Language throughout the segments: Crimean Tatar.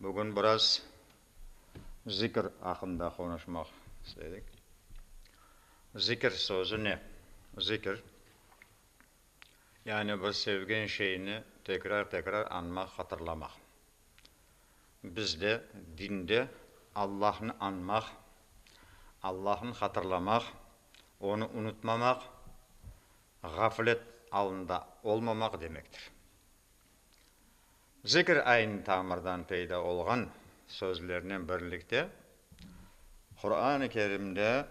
Bugün biraz zikr aqqında qonuşmaq istedik. Zikr sözü ne? Zikr, yani bir sevgen şeyni tekrar-tekrar añmaq, hatırlamaq. Bizde, dinde Allahnı añmaq, Allahnı hatırlamaq, Onı unutmamaq, ğaflet alında olmamaq demektir. Zikr aynı tamırdan peyda olğan sözlernen birlikte, Quran-ı Kerimde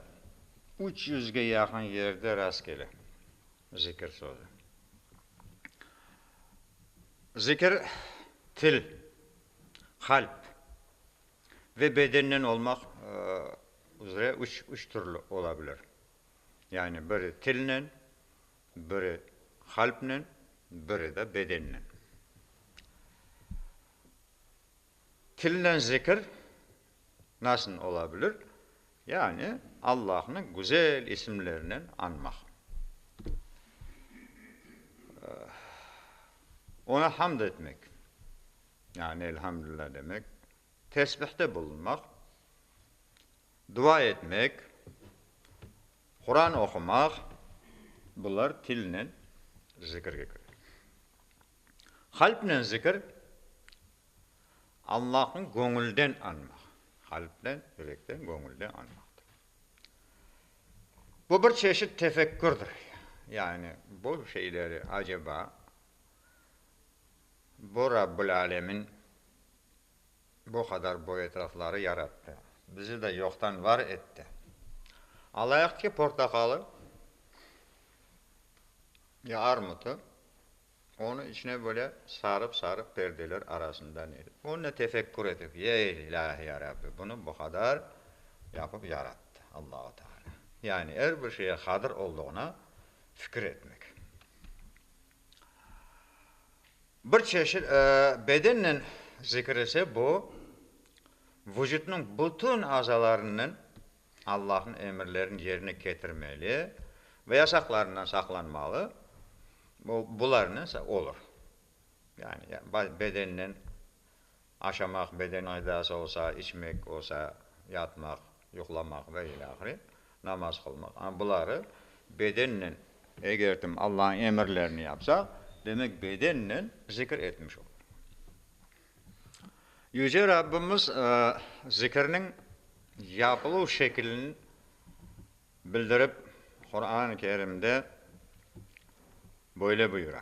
üç yüzge yaqın yerde rastkele zikr sözü. Zikr til, qalp ve bedennen olmaq üzre üç türlü ola bilir. Yani biri tilnen, Biri qalpnen, biri de bedennen. Tilnen zikir nasıl ola bilir? Yani Allahnı güzel isimlerinen añmaq. Oña hamd etmek, yani Elhamdülillah demek, tesbihte bulunmaq, Dua etmek, Quran oqumaq, bular tilnen zikirge kire. Qalpnen zikir, Allahnı göñülden añmaq, qalpnen, yürekten, göñülden añmaqtır. Bu bir çeşit tefekkürdir, yani bu şeyleri aceba bu Rabbil Âlemin, Bu qadar boy etrafları yarattı. Bizi de yoqtan var etti. Alayıq ki, portaqalı ya armutı, onı içine böyle sarıp-sarıp perdeler arasından yedi. Onne tefekkür etip, Ey, ilâhi ya Rabbi, bunı bu qadar yapıp yarattı Allahu Teala. Yani er bir şeye qadir olduğına fikir etmek. Bir çeşit bedennen zikir ise bu, vucutnıñ bütün azalarınen Allahnıñ emirlerini yerine ketirmeli ve yasaqlarından saqlanmalı, bularnen olur. Yani bedennen. Aşamaq, beden aydası olsa, içmek olsa, yatmaq, yuqlamaq ve ile ahire, namaz qılmaq. Ana buları bedennen. Eger kim Allañıñ emirlerini yapsa, demek, bedennen zikir etmiş olur. Yüce Rabbimiz zikirniñ yapılıv şekilini bildirip, Quran-ı Kerimde böyle buyura.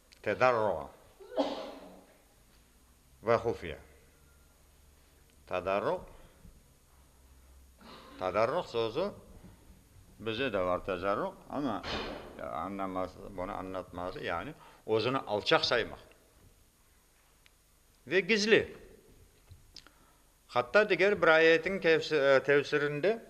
Tedarro ve hufiye. Tadarruq, tadarruq sözü bizde de var tecarruq, amma anlaması, bunı anlatması, yani özüni alçaq saymaq ve gizli. Hatta diger bir ayetiñ tefsirinde.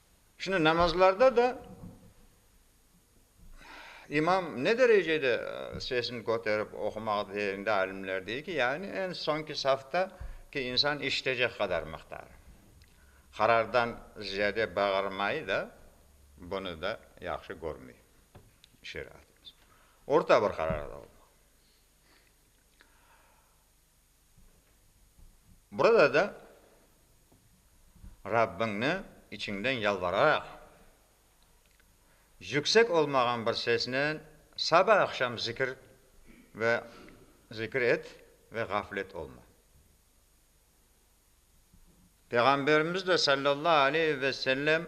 Şimdi namazlarda da imam ne derecede sesini köterip oqumağa teyinde alimler dey ki, yani eñ soñki safta ki insan işitecek qadar mıqdarı. Qarardan ziyade bağırmayı da bunı da yahşı körmey şeriatımız. Orta bir qararda olmalı. Burada da Rabbiñni içiñden yalvararaq, yüksek olmağan bir sesnen saba-aqşam zikir ve zikir et ve ğaflet olma. Peyğamberimiz de, sallallahu aleyhi ve sellem,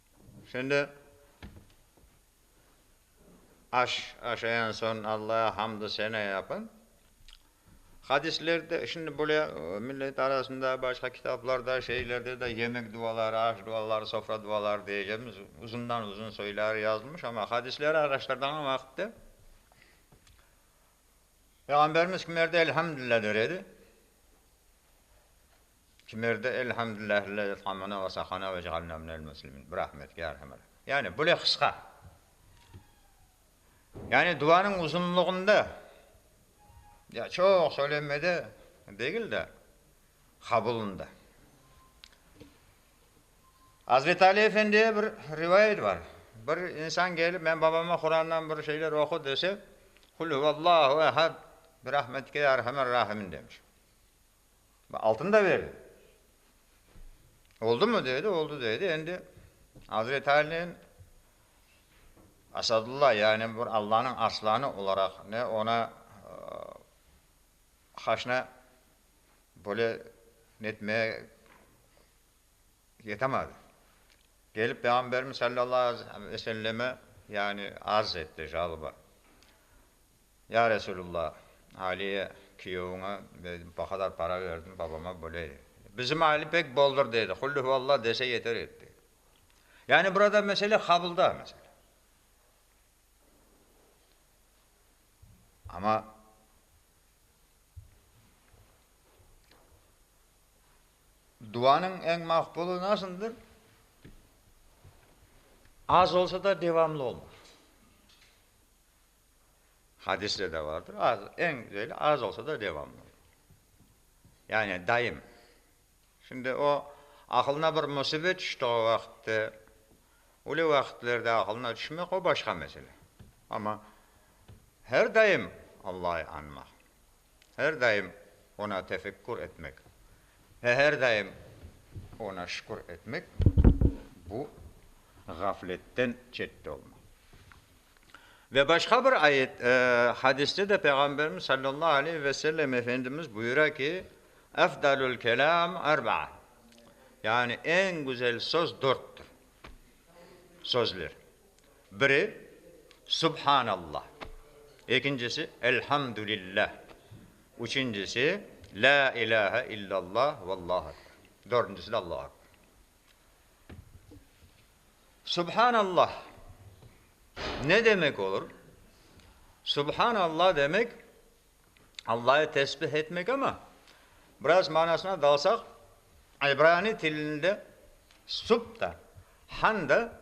Şimdi aş, aşayan soñ Allağa hamd-u sena yapın. Hadislerde, şimdi böyle millet arasında, başqa kitaplarda, şeylerde de yemek duaları, aş duaları, sofra duaları diyeceğimiz uzundan-uzun soyları yazılmış, amma hadisleri araştırdığım vaqıtta Peyğamberimiz kimlerde Elhamdülilâ der edi? Kimerde Elhamdülillah illa yutqanmana ve sahana ve cealna minel muslimin. Bir Ahmet ki Arhamar. Yani bule qısqa. Yani duanıñ uzunlığında ya çoq söylenmede degil de qabulında. Azreti Ali Efendiye bir rivayet bar. Bir insan kelip men babama Qurandan bir şeyler oqu dese, Qul huvallahu ehad, bir Ahmet ki Arhamar Rahimin demiş. Altın da berdi. Oldumı dedi, oldu dedi. Endi Azreti Alinen Asadulla, yani bir Allanıñ arslanı olaraq ne ona haşna böyle netmeye yetemadı. Kelip Peyğamberimiz sallallahu aleyhi ve selleme, yani arz etti, jalba. Ya Resululla, Aliye küyevine bu qadar para verdim, babama böyle. Bizim Ali pek boldur, dedi, Qul Huvallah dese yeter etti. Yani burada mesele qabılda, mesele. Amma duanıñ eñ maqbulu nasıldır? Az olsa da devamlı olmaq. Hadiste de vardır, az, eñ güzeli az olsa da devamlı, yani daim. Şimdi o aqılına bir musibet tüştüği vaqıtte, ölü vaqıtlarda aqılına tüşmek, o başqa mesele. Amma her daim Allâı añmaq, Her daim Oña tefekkür etmek ve her daim Oña şükür etmek, bu, ğafletten çette olma. Ve başqa bir ayet, hadiste de Peyğamberimiz sallallahu aleyhi ve sellem Efendimiz buyura ki, Efdalül kelâm erbaa, yani eñ güzel söz dörttür, sözler. Biri, Subhanalla, ekincisi, Elhamdülillah, üçüncisi, La ilahe illalla ve Allahu ekber, dördüncisi de Allahu ekber. Subhanalla ne demek olur? Subhanalla demek, Allah'ı tesbih etmek ama, biraz manasına dalsaq, İbrani tilinde Sub da, Han da,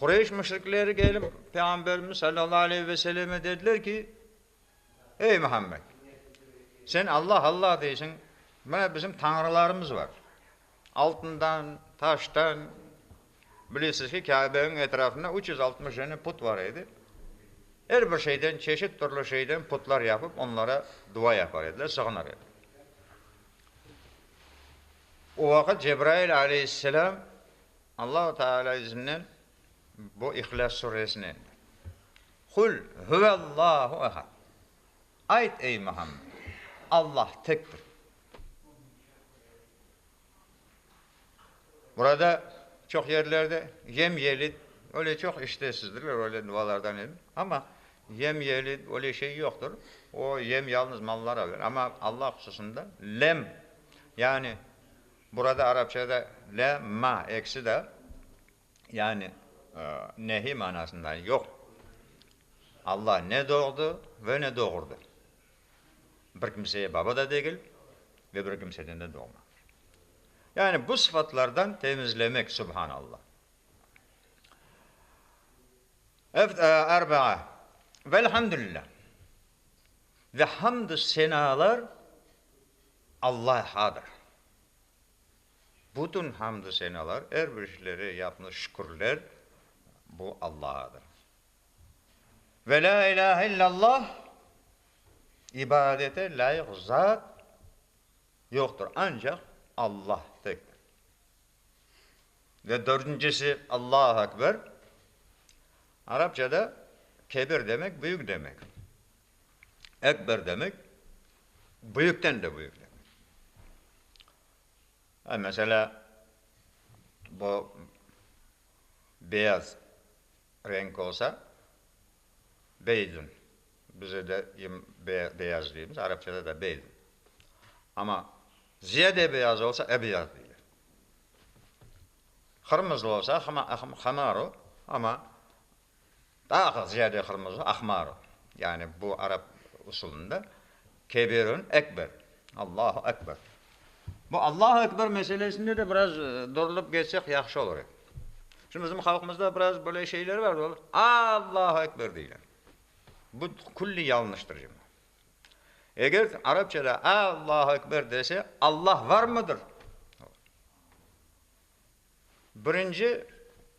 Qureyş müşrikleri kelip, Peyğamberimiz sallallahu aleyhi ve sellem'e dediler ki, Ey Muhammed! Sen Allah, Allah deysiñ, mına bizim tañrılarımız bar, altından, taştan, bilesiz ki, Kâbe'niñ etrafında üç yüz altmış dene put bar edi, er bir şeyden, çeşit türlü şeyden putlar yapıp, onlara dua yapar ediler, sığınır ediler. O vaqıt Cebrail aleyhisselam. Allahu Teala izninden bu İhlâs Suresini, Kul huvallahu ehad, Ayt, ey Muhammed, Allah tektir. Burada çoq yerlerde Yem yelid, öyle çoq iştesizdirler, öyle dualardan edin. Amma Yem yelid, öyle şey yoqtır. O yem yalnız mallara verir. Amma Allah hususında Lem, yani. Burada arapçada la ma ekisi de, yani nehiy manasında, yoq. Alla ne doğdı ve ne doğurdı. Bir kimseye baba da degil ve bir kimseden de doğmadı. Yani bu sıfatlardan temizlemek, subhanalla. Eft arba'a Velhamdülillah. Ve hamdü senalar Allahadır bütün hamdü senalar, er bir işleri yapnı şükürler bu Allahadır. Ve la ilahe illallah ibadete lâyıq zat yoqtır, ancaq Allah tek. Ve dördüncisi Allahu Ekber, arapçada kebir demek, büyük demek. Ekber demek, büyükten de büyük demek. Ha, meselâ, bu beyaz renk olsa, Beydun, bize de em beyaz deymiz, arapçada da Beydun. Amma ziyade beyaz olsa, Ebyad deyile. Qırmızı olsa, Hıma, Hımaru, amma Daa aqıq ziyade qırmızı, ahmar, yani bu arap usulında Kebirün ekber, Allahu ekber. Bu Allahu ekber meselesinde de biraz durılıp geçsek yahşı olur edi. Şimdi bizim halqımızda biraz böyle şeyler var, ol Allahu ekber deyler. Bu külli yañlıştır şimdi. Eger arapçada Allahu ekber dese, Allah varmıdır? Birinci,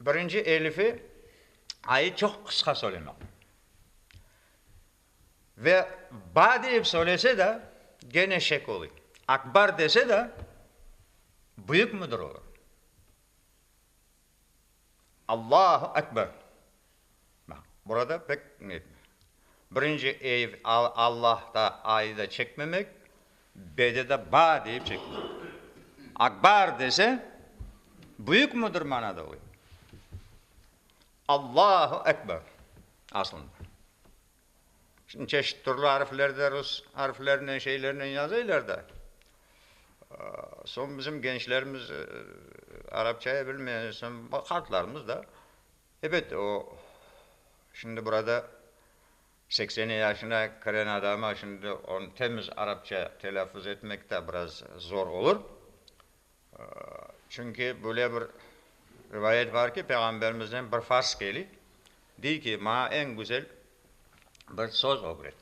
birinci elifi ayı çoq qısqa söylemek. Ve ba deyip söylese de, gene şek oluy. Akbar dese de, büyük müdir olur. Allahu Ekber. Burada pek birinci ev Allahta ayda çekmemek, bede de ba deyip çekmemek. Akbar dese, büyük müdür manada oy. Allahu Ekber aslında. Şimdi çeşit türlü ariflerde, rus ariflerinen, şeylerinen yazıylar da, soñ bizim gençlerimiz arapçayı bilmeyince soñ, hatlarımız da, Ebet, o, şimdi burada seksen yaşına kiren adama şimdi onı temiz arapça telâffuz etmek de biraz zor olur. Çünki böyle bir rivayet bar ki, Peyğamberimizden bir fars keli, dey ki, maña eñ güzel bir söz ögret.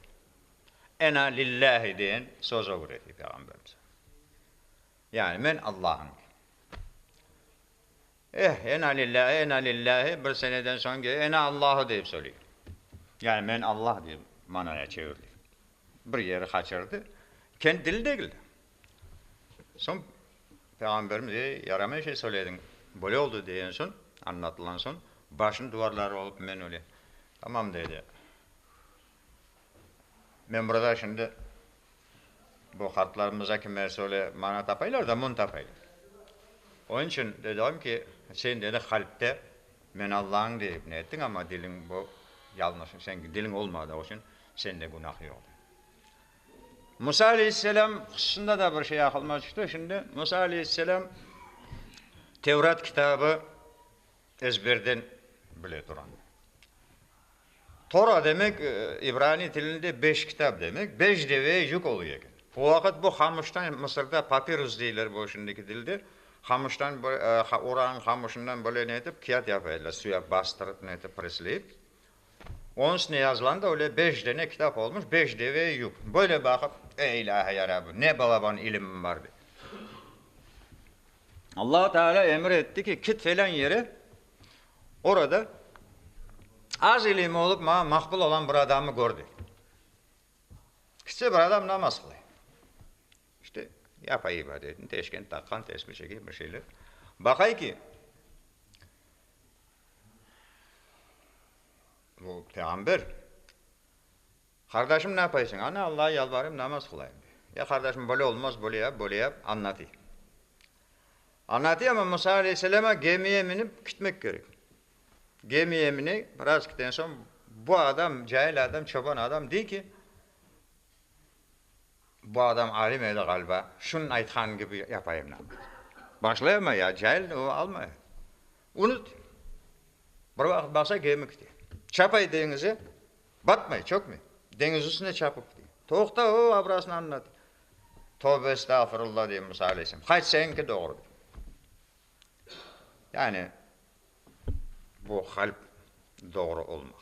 Ena lillâhi deyen söz ögreti Peyğamberimiz. Yani men Allañım. Eh, ena lillâhi, ena lillâhi, bir seneden soñ ki, ena Allahı deyip söyley. Yani men Allah dep manaya çevirdi. Bir yeri qaçırdı, kent dili degil. Soñ Peyğamberimiz, ey, yaramay şey söylediñ, böyle oldu degen soñ, añlatılan soñ, başını duvarlarğa urıp, men öyle, tamam, dedi. Men burada şimdi bu qartlarımıza kime söyle, mana tapaylar da mün tapaylar. Onıñ içün dedim ki, sen dedi qalpte Men Allañım deyip ne ettiñ, amma diliñ bu yalñış, señki diliñ olmadı, o içün sende günah yoq dedim. Musa aleyhisselam hususında da bir şey aqılıma tüşti şimdi. Musa aleyhisselam Tevrat kitabı Ezberden bile turam. Tora demek ibraniy tilinde beş kitap demek, beş deveye yük oluy eken. O vaqıt bu qamıştan, Mısırda papirus deyler bu şimdiki dilde, qamıştan, orağın qamışından böyle netip, kiat yapay ediler, suya bastırıp, netip, presleyip, Onıñ içinde yazılan da öyle beş dene kitap olmuş, beş deve yük. Böyle baqıp, Ey ilâhi ya Rabbi, ne balaban ilimim bar, dedi. Allahu Teala emir etti ki, kit felân yere, orada az ilimi olup, maña maqbul olan bir adamı gör, dedi. Kitse, bir adam namaz qılay. İşte, yapay ibadetin, teşkent taqqan, tesbi çekey, bir şeyler. Baqay ki, O, peğamber. Qardaşım, ne yapaysıñ? Ana, Allağa yalvarayım, namaz qılayım, dey. Ya, qardaşım, böyle olmaz, böyle yap, böyle yap, añlatıy. Añlatıy, amma Musa aleyhisselama gemiye minip kitmek kerek. Gemiye miney, biraz kiten soñ, bu adam, cahil adam, çoban adam, dey ki, Bu adam alim edi ğaliba, şunıñ aytqanı kibi yapayım nam. Başlay ama ya, cahil, o almay. Unut. Bir vaqıt baqsa, gemi kite. Çapay deñize, batmay, çökmey. Deñiz üstüne çapıp kite. Toqta, o abrasını añlat. Tovbe estağfurullah dey Musa aleyhisselam. Hayt, señinki doğru dey. Yani bu qalp doğru olmaq.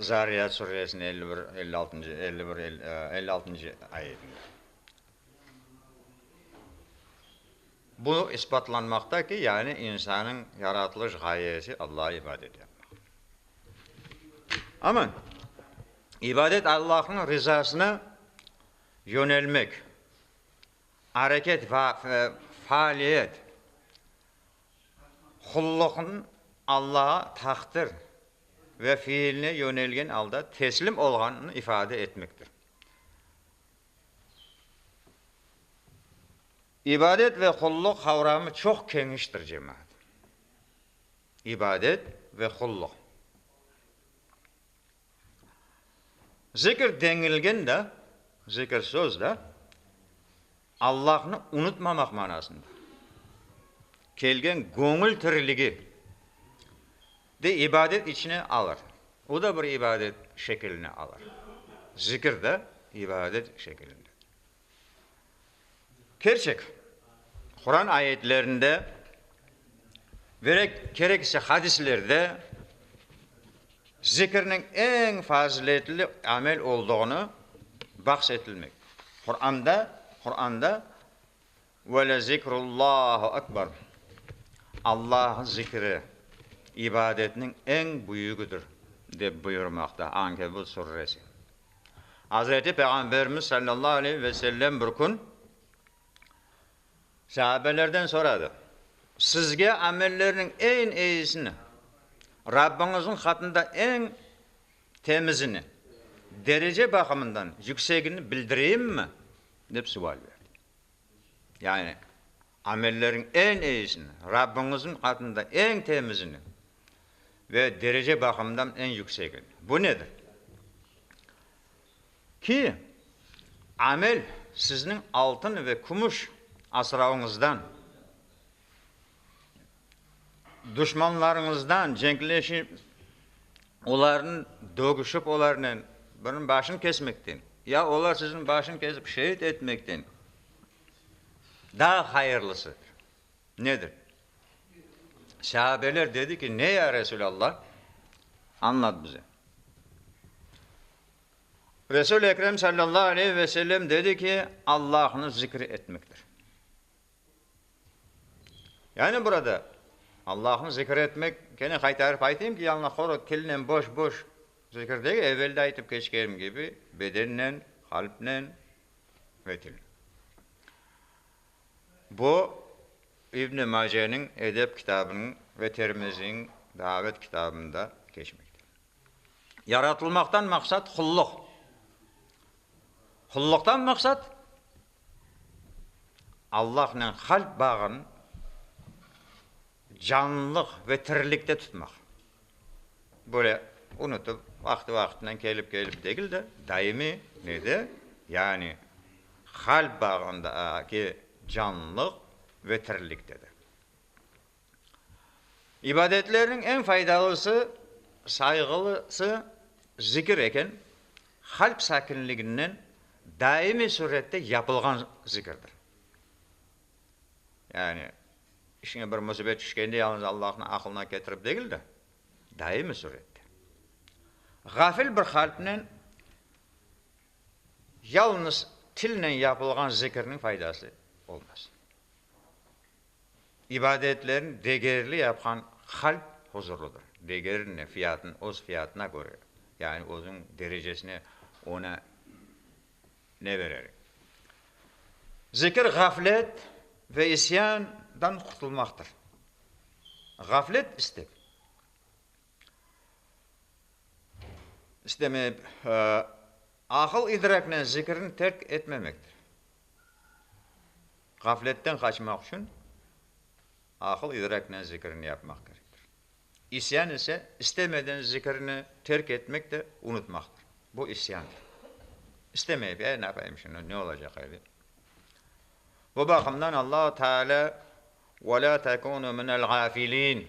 Zariyat suresiniñ elli bir, elli altıncı, elli bir, elli altıncı ayetinde bu isbatlanmaqta ki, yani insannıñ yaratılış ğayesi Allağa ibadet yapmaq. Amma ibadet Allahıñ rizasına yönelmek, areket, faaliyet, Qulluqnı Allağa taqdir ve fiiline yönelgen alda teslim olğanını ifade etmektir. İbadet ve qulluq qavramı çoq keñiştir, cemaat. İbadet ve qulluq. Zikir deñilgen da, zikir söz da, Allahnı unutmamaq manasında kelgen göñül tiriligi de ibadet içine alır. O da bir ibadet şekiline alır. Zikir de ibadet şekilinde. Kerçek, Quran ayetlerinde ve kerek ise hadislerde zikirniñ eñ faziletli amel olduğını bahs etilmekte. Quranda, Quranda, Ve le zikrullahu ekber, Allahnıñ zikri ibadetniñ eñ büyügidir, dep buyurmaqta Ankebut surresi. Azreti Peyğamberimiz sallallahu aleyhi ve sellem bir kün saabelerden soradı, Sizge amellerniñ eñ eyisini, Rabbiñizniñ hatında eñ temizini, derece baqımından yüksegini bildireyimmi? dep sual berdi. Yani, amelleriñ eñ eyisini, Rabbiñizniñ adında eñ temizini ve derece baqımından eñ yüksegini. Bu nedir? Ki, amel sizniñ altın ve kümüş asravıñızdan. Duşmanlarıñızdan cenkleşip, olarnı dögüşip, olarnen biriniñ başını kesmekten ya olar siziñ başını kesip şeet etmekten daa hayırlısı nedir? Sâbeler dedi ki, ne ya Resûlallah? Añlat bize. Resûl-i Ekrem sallallahu aleyhi ve sellem dedi ki, Allahnı zikir etmektir. Yani burada Allahnı zikir etmek, kene qaytarıp aytayım ki, yalnız quru tilnen boş-boş zikir degil, evel de aytıp keçkenim kibi, bedennen, qalpnen ve tilnen. Bu, İbni Maceniñ edep kitabınıñ ve Termiziñ davet kitabında keçmekte. Yaratılmaqtan maqsat qulluq. Qulluqtan maqsat? Allahnen qalp bağın canlılıq ve tirilikte tutmaq, böyle unutıp, vaqtı-vaqtından kelip-kelip degil de, daimiy ne de, yani qalp bağındaki canlılıq ve tirilikte de. İbadetlerniñ eñ faydalısı, sayğılısı zikir eken, qalp sakinliginden daimiy sürette yapılğan zikirdir. Yani işiñe bir musibet tüşkende yalnız Allahnı aqılına ketirip degil de, daimiy sürette. Ğafil bir qalpnen yalnız tilnen yapılğan zikirniñ faydası olmaz. ibadetlerini degerli yapqan qalp huzurludır. Degerine, fiyatına, öz fiyatına köre, yani özüniñ derecesine, ona ne berer. Zikir ğaflet ve isyandan qurtulmaqtır. Ğaflet istek, istemey, aqıl-idraknen zikirni terk etmemektir. Ğafletten qaçmaq içün aqıl-idraknen zikirni yapmaq kerektir. İsyan ise, istemeden zikirni terk etmek de unutmaqtır. Bu isyandır. İstemeyip, e, ne yapayım şimdi, ne olacaq e, dep. Bu baqımdan Allahu Teala, Ve la tekunu minel ğafilin.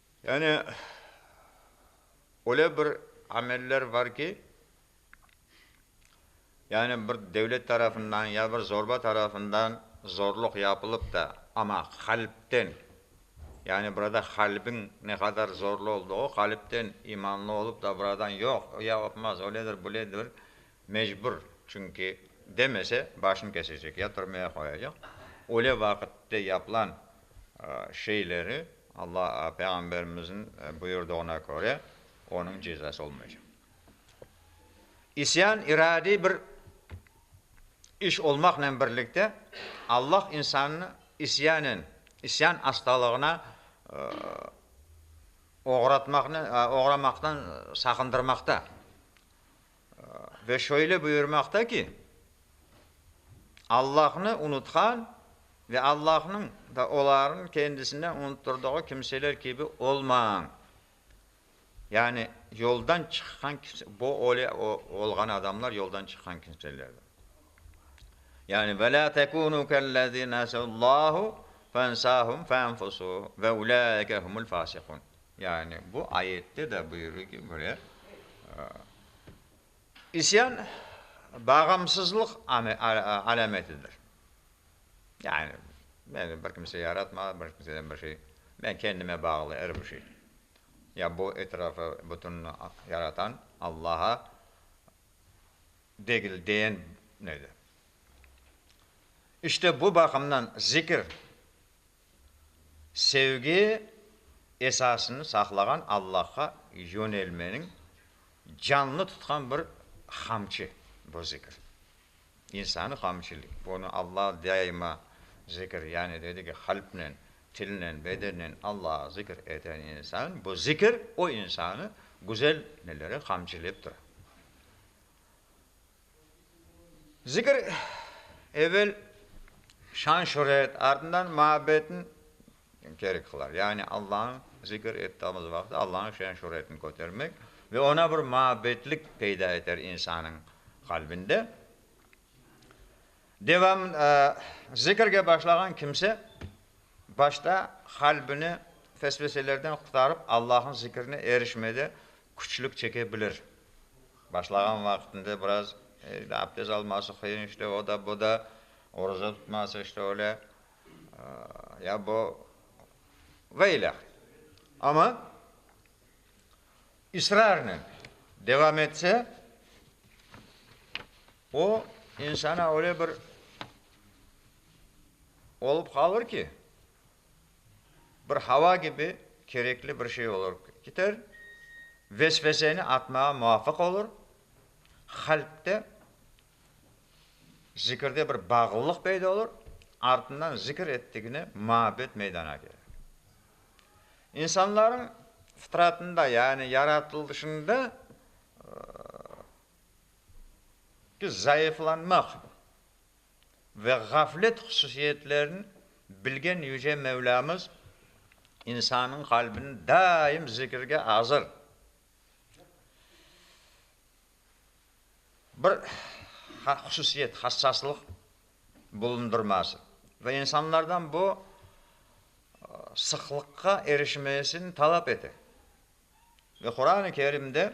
Yani, öyle bir ameller bar ki, yani bir devlet tarafından ya bir zorba tarafından zorluq yapılıp da, amma qalpten, yani burada qalbiñ ne qadar zorlu olduğu, qalpten imanlı olup da buradan yoq, yapmaz, öyledir, böyledir, Mecbur, çünki demese, başını kesecek, ya türmeye qoyacaq. Öyle vaqıtte yapılan şeyleri, Allah, Peyğamberimizniñ buyurdığına köre, onıñ cezası olmaycaq. İsyan iradiy bir iş olmaqnen birlikte, Allah insannı isyanen, isyan astalığına oğratmaqnen, oğramaqtan saqındırmaqta. Ve şöyle buyurmaqta ki, Allahnı unutqan ve Allahnıñ da olarnıñ kendisini unutturdığı kimseler kibi olmañ. Yani yoldan çıqqan kimse, bu öyle olğan adamlar yoldan çıqqan kimselerdir. Yani ve la tekunu kellezi nesullahu fensahum fenfusuhum ve ulaike humul fasikun. Yani bu ayette de buyurı ki, böyle, isyan bağımsızlıq alametidir. Yani meni bir kimse yaratmadı, bir kimseden bir şey, men kendime bağlı er bir şey. Ya bu etrafı bütün yaratan Allaha degil deyen nedir? İşte bu baqımdan zikir. Sevgi esasını saqlağan Allahqa yönelmeniñ canlı tutqan bir qamçı bu zikir. İnsanı qamçılayı. Bunı Allah daima zikir, yani dedi ki, qalpnen, tilnen, bedennen Allahı zikir eten insan, bu zikir o insanı güzel nelere qamçılayıp tura. Zikir, evel şan-şöret, ardından muabbetni kerek qılar. Yani Allañı zikir ettiğimiz vaqıt Allañı şan-şöretini kötermek ve oña bir muabbetlik peyda eter insannıñ qalbinde. Devam, zikirge başlağan kimse başta qalbini fesveselerden qurtarıp Allañı zikrine erişmede küçlük çeke bilir. Başlağan vaqtında biraz aptez alması qıyın, işte o da, bu da, oruza tutması, işte öyle, ya bu, ve ilâh. Amma israrnen devam etse, o, insana öyle bir olup qalır ki, bir hava kibi kerekli bir şey olıp kiter, vesveseni atmağa muvafıq olur, qalpte, zikirde bir bağlılıq peyda olur, artından zikir ettigine muabbet meydana kelir. İnsanların fıtratında, yani yaratılışında ki zayıflanmaq. ve ğaflet hususiyetlerini bilgen Yüce Mevlamız insannıñ qalbini daim zikirge azır, bir hususiyet, hassaslıq bulundırması ve insanlardan bu sıqlıqqa erişmesini talap ete. Ve Quran-ı Kerimde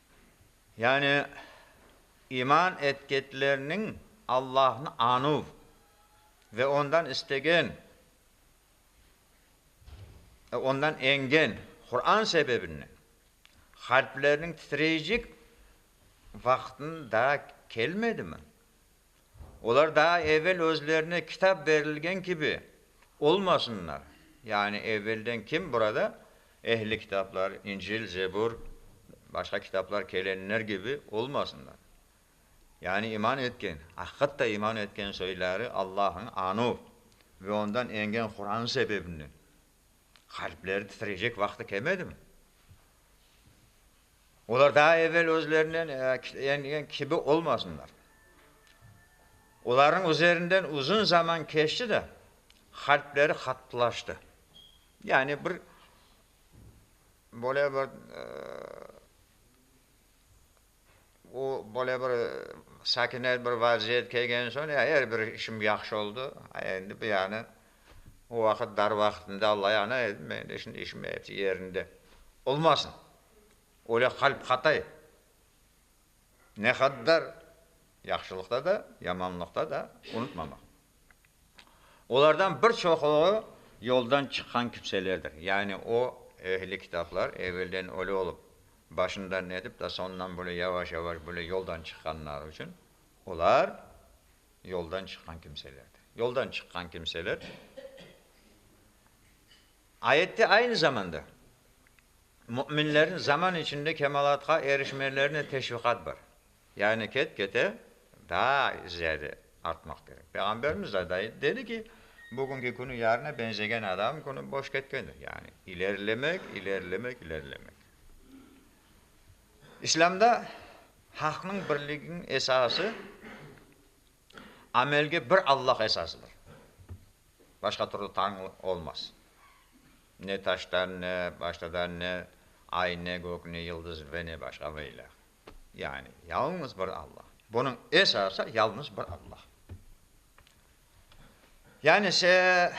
Yani, iman etketlernıñ Allahnı anuv ve Ondan istegen, Ondan engen Quran sebebinden, qalplerniñ titreycik vaqtın daa kelmedimi? Olar daa evel özlerine kitap berilgen kibi olmasınlar, yani evelden kim burada ehli kitaplar, İncil, Zebur, başqa kitaplar kelenler kibi olmasınlar. Yani iman etken, aqıqatta iman etken soyları Allahnı anuv ve ondan engen Quran sebebinden qalpleri titreycek vaqtı kelmedimi? Olar daa evel özlerinden eñgen kibi olmasınlar. Olarnıñ üzerinden uzun zaman keçti de, qalpleri qattılaştı. Yani bir böyle bir o böyle bir sakinez bir vaziyet kelgen soñ ya er bir işim yahşı oldı, endi bu yani o vaqıt dar vaqıtında Alla yana edim, endi şimdi işim yerinde olmasın. öyle qalp qatay, ne qaddar yahşılıqta da, yamanlıqta da unutmamaq. Olardan bir çoquğı yoldan çıqqan kimselerdir. Yani o ehli kitaplar evelden öyle olıp, başından netip da soñundan böyle yavaş-yavaş böyle yoldan çıqqanları içün olar yoldan çıqqan kimselerdir. Yoldan çıqqan kimseler Ayette aynı zamanda müminlerniñ zaman içinde kemalatqa erişmelerine teşviqat bar. Yani ket-kete daa ziyade artmaq kerek. Peyğamberimiz de ayttı, dedi ki, bugünki künü yarına benzegen adam künü boş ketkendir. Yani ilerilemek, ilerilemek, ilerilemek. İslâmda halqnıñ birliginiñ esası Amelge bir Allah esasıdır. Başqa türlü Tañı olmaz. Ne taştan, ne baştadan, ne ay, ne gök, ne yıldız ve ne başqa ve ilâh. Yani yalıñız bir Allah. Bunıñ esası yalıñız bir Allah. Yani se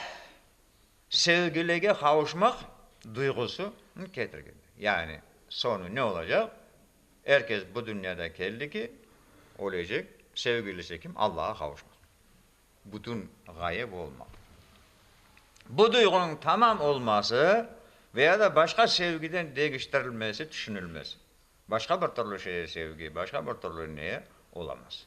sevgilige qavuşmaq duyğusını ketirgen. Yani soñu ne olacaq? Er kes bu dünyada keldi ki, ölecek, sevgilisi kim, Allağa qavuşmaq, bütün ğayıp olmaq. Bu duyğunıñ tamam olması ve ya da başqa sevgiden degiştirilmesi tüşünilmez. Başqa bir türlü şeye sevgi, başqa bir türlü neye olamaz.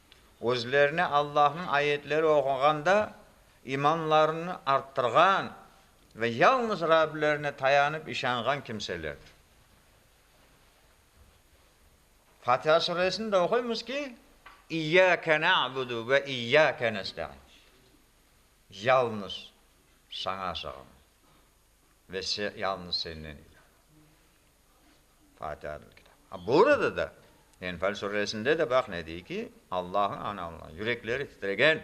özlerine Allahnıñ ayetleri oquğanda imanlarını arttırğan ve yalnız Rablerine tayanıp işanğan kimselerdir. Fatiha Suresinde oquymız ki, İyyâke na'budu ve İyyâke nesta'in, Yalnız Saña sığınırıq ve yalnız Senden ibaret. Fâtiha adlı kitap. Ha, burada da, Enfâl suresinde de baq ne dey ki, Allah'ı ananlar, yürekleri titregen,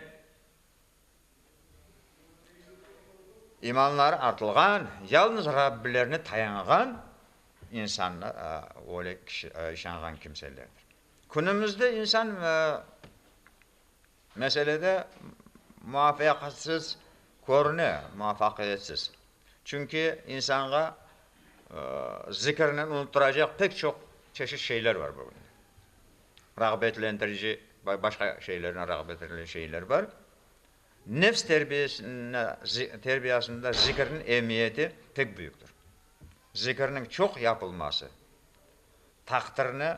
imanları artılğan, yalnız Rabbilerine tayanğan insanlar, öyle kişi, işanğan kimselerdir. Künümüzde insan meselede muvafaqatsız körüne, muvafaqiyetsiz. Çünki insanğa zikirnen unutturacaq pek çoq çeşit şeyler bar bugün. Rağbetlendirici ve başqa şeylernen rağbetlendirici şeyler bar. Nefs terbiyasında zikirniñ emiyeti pek büyüktir. Zikirniñ çoq yapılması taqdirni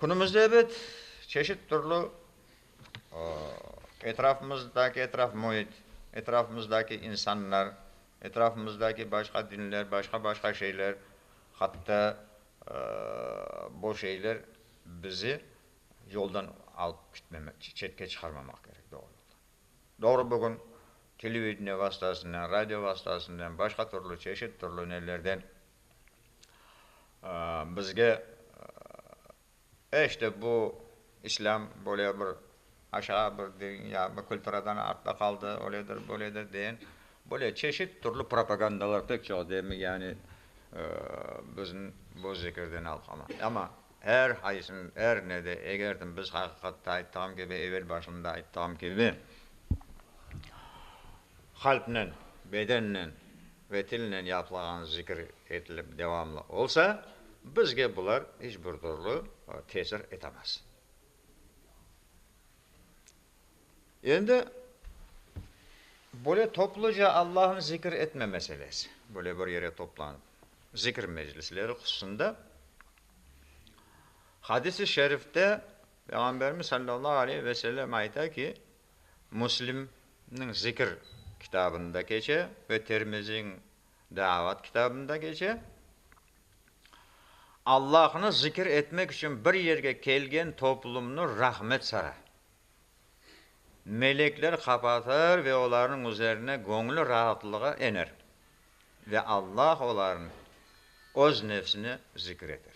Künümizde ebet çeşit türlü etrafımızdaki etraf müit, etrafımızdaki insanlar, etrafımızdaki başqa dinler, başqa-başqa şeyler, hatta bu şeyler bizi yoldan alıp ketmemek, çetke çıqarmamaq kerek, doğru yoldan. Doğru bugün televideniye vastasınen, radio vastasınen, başqa türlü, çeşit türlü nelerden, Bizge eş de bu İslâm böyle bir aşağı bir din ya bir külturadan artta qaldı, öledir, böyledir deyen böyle çeşit türlü propagandalar pek çoq değil mi, yani bizim bu zikirden alqama. Amma er qaysın, er ne de eger de biz aqiqatta ayttığım kibi, evel başında ayttığım kibi, Qalpnen, bedennen ve tilnen yapılağan zikir etilip devamlı olsa, bizge bular iç bir dürlü tesir etemez. Endi böyle topluca Allahnı zikir etme meselesi, böyle bir yere toplanıp zikir meclisleri hususında Hadis-i şerifte Peyğamberimiz sallallahu aleyh ve sellem ayta ki, Müslimniñ Zikir kitabında keçe ve Termiziñ Daavat kitabında keçe, Allahnı zikir etmek içün bir yerge kelgen toplumnı rahmet sara. Melekler qapatır ve olarnıñ üzerine göñli raatlığı ener ve Allah olarnı Öz nefsine zikir eter.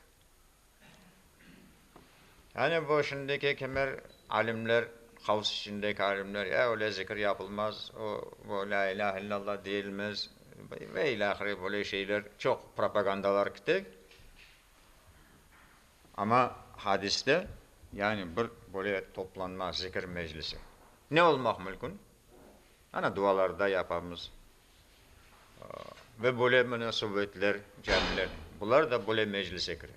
Yani bu şimdiki kimer alimler, havs içindeki alimler, ya öyle zikir yapılmaz, o, bu lâ ilâhe illallah deyilmez ve ilâhre böyle şeyler çoq propagandalar kite. Amma hadiste yani bir böyle toplanma, zikir meclisi ne olmaq mülkün? Ana dualarda yapamız, Ve böyle munasebetler, camiler, bular da böyle meclise kire,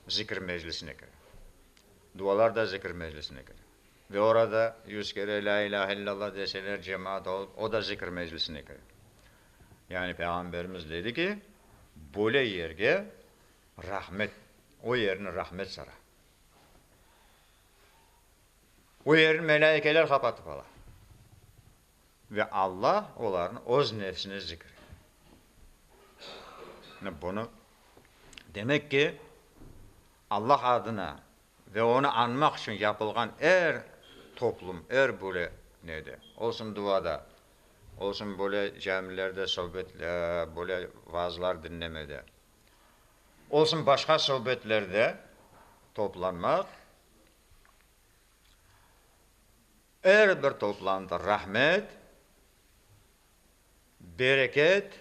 zikir meclisine kire. Dualar da zikir meclisine kire. Ve orada yüz kere la ilahe illallah deseler, cemaat olup, o da zikir meclisine kire. Yani Peyğamberimiz dedi ki, böyle yerge rahmet, o yerni rahmet sara. O yerni melâikeler qapatıp ala. Ve Alla olarnı Öz nefsine zikr etti. Mine bunı, demek ki, Alla adına ve Onı añmaq içün yapılğan er toplum, er böyle nede, olsun duada, olsun böyle camilerde sövbet, böyle vaazlar diñlemede, olsun başqa sövbetlerde toplanmaq, Er bir toplamda rahmet, bereket,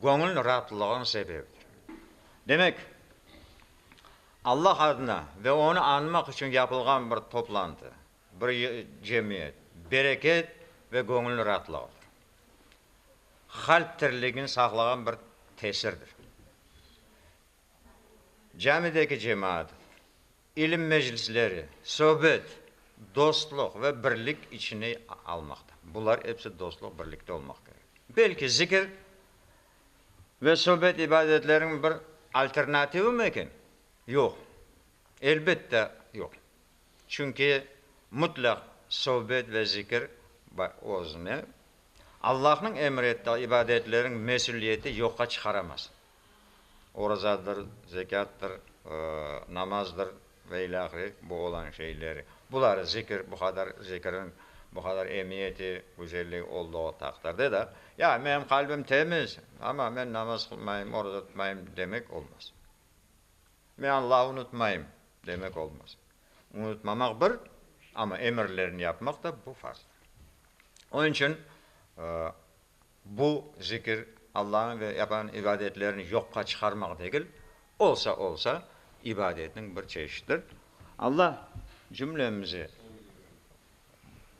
göñül raatlığınıñ sebebidir. Demek, Allah adına ve onı añmaq içün yapılğan bir toplantı, bir cemiyet, bereket ve göñül raatlığıdır. Qalp tirligini saqlağan bir tesirdir. Camideki cemaat, İlim meclisleri, söbet, dostluq ve birlik içine almaqta. Bular episi dostluq, birlikte olmaq kerek. Belki zikir ve söbet ibadetleriniñ bir alternativimi eken? Yoq, elbette yoq. Çünki mutlaq söbet ve zikir özüne Allahnıñ emir ettiği ibadetleriñ mesüliyeti yoqqa çıqaramaz. orazadır, zekâttır, namazdır ve ilâ ahire bu olan şeyleri. Buları zikir, bu qadar zikirniñ bu qadar emiyeti, güzelligi olduğu taqdirde de, ya menim qalbim temiz, amma men namaz qılmayım, oraza tutmayım demek olmaz. Men Allahı unutmayım demek olmaz. Unutmamaq bir, amma emirlerini yapmaq da bu farzdır. Onıñ içün Bu zikir Allañı ve yapılan ibadetlerni yoqqa çıqarmaq degil, olsa olsa ibadetniñ bir çeşittir. Alla cümlemizi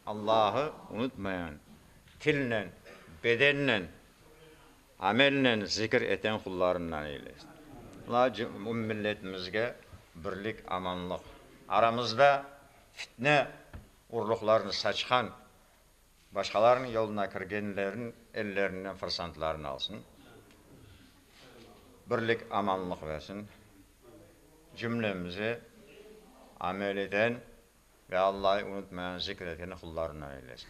Allahı unutmayan, tilnen, bedennen, amelnen zikir eten qullarından eylesin. Alla ümum milletimizge birlik, amanlıq, aramızda fitne urluqlarını saçqan başqalarnıñ yoluna kirgenlerniñ ellerinden fırsantlarını alsın, birlik, amanlıq bersin, cümlemizi amel eten ve Allahı unutmayan, zikr eten qullarından eylesin.